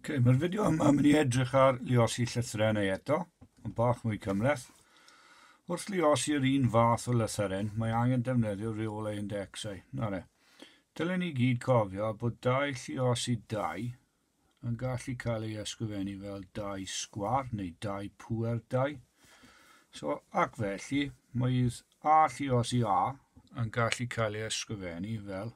okay, mae'r fideo yma yn mynd i edrych ar liosi llythrennau neu eto, yn bach mwy cymleth. Wrth liosi yr un fath o lythyren, mae angen defnyddio reol ei indexau. Na re. Dylen ni gyd cofio bod dau lliosi dau yn gallu cael ei ysgrifennu fel dau sgwar neu dau pwer dau. So, ac felly, mae a lliosi a yn gallu cael ei ysgrifennu fel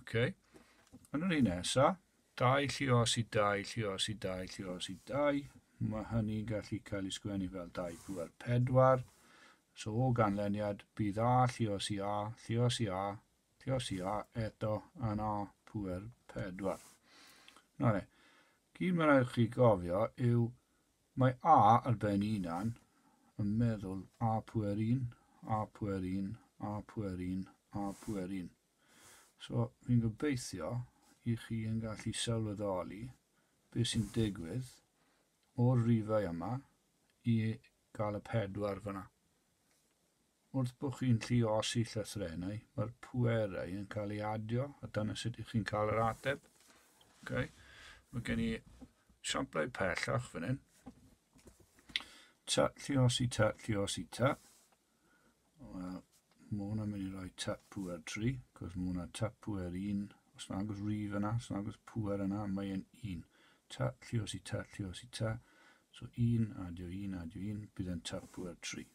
Okay. Yn yr un nesa, dau llios i dau llios i dau llios i dau. Mae hynny gallu cael ei sgwennu fel dau pŵer pedwar. So o ganlyniad, bydd a llios i a, llios i a, llios i a eto yn a pŵer pedwar. Na ne, gyd mae'n rhaid chi gofio yw Mae A ar ben unan, yn meddwl, A pwer un, A pwer un, A pwer un, A pwer un. So, fi'n gobeithio i chi yn gallu sylweddoli beth sy'n digwydd o'r rifau yma i gael y pedwar fyna. Wrth bo chi'n lluosi llythrennau, mae'r pwerau yn cael ei adio, a dyna sut ych chi'n cael yr ateb. Okay. Mae gen i samplau pellach fan hyn. Ta, lliosi ta, lliosi ta. Wel, mae hwnna'n mynd i roi tap pwer 3, cos mae hwnna tap pwer 1. Os na agos rif yna, os na agos pwer yna, mae e'n 1. Ta, lliosi ta, lliosi ta. So 1, adio 1, adio 1, bydd e'n tap pwer 3.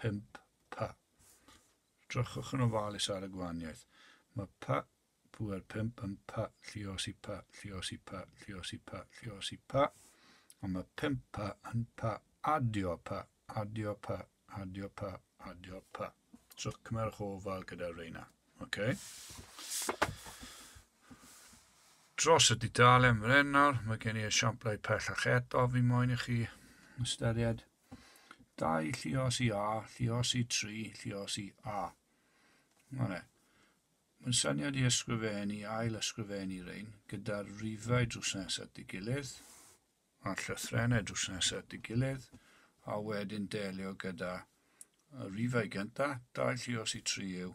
5 pa. Edrychwch yn ofalus ar y gwahaniaeth. Mae pa, pŵer 5 yn pa, lliosi pa, lliosi pa, lliosi pa, lliosi pa. Ond mae 5 pa yn pa, adio pa, adio pa, adio pa, adio pa. Trwch cymerwch ofal gyda reina. Okay. Dros y dudalen fren nawr, mae gen i esiamplau pellach eto fi moyn i chi ystyried. 2, llios i A, llios i 3, llios i A. Mae'n Mae'n syniad i ysgrifennu, ail ysgrifennu rein, gyda'r rifau drws nesaf at ei gilydd, a'r llythrenau drws nesaf at ei gilydd, a wedyn delio gyda y rifau gyntaf, 2 llios i 3 yw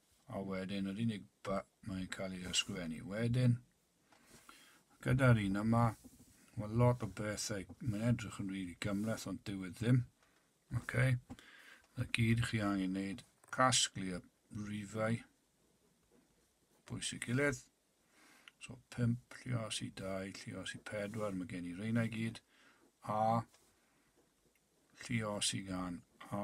A wedyn, yr unig ba, mae'n cael ei ysgrifennu wedyn. Gyda'r un yma, mae lot o bethau, mae'n edrych yn rili really gymleth, ond dyw e ddim. Okay. Na gyd chi angen wneud, casglu y rifau, bwysig gilydd. So 5, llios i 2, llios i 4, mae gen i reina i gyd, a llios i gan, a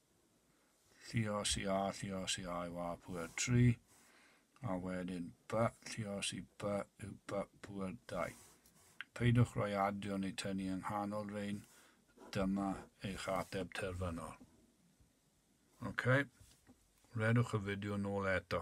Lliosi A, lliosi A yw A pŵer 3, a wedyn B, lliosi B yw B pŵer 2. Peidiwch roi adio neu tynnu yng nghanol rein, dyma eich ateb terfynol. Ok, redwch y fideo nôl eto.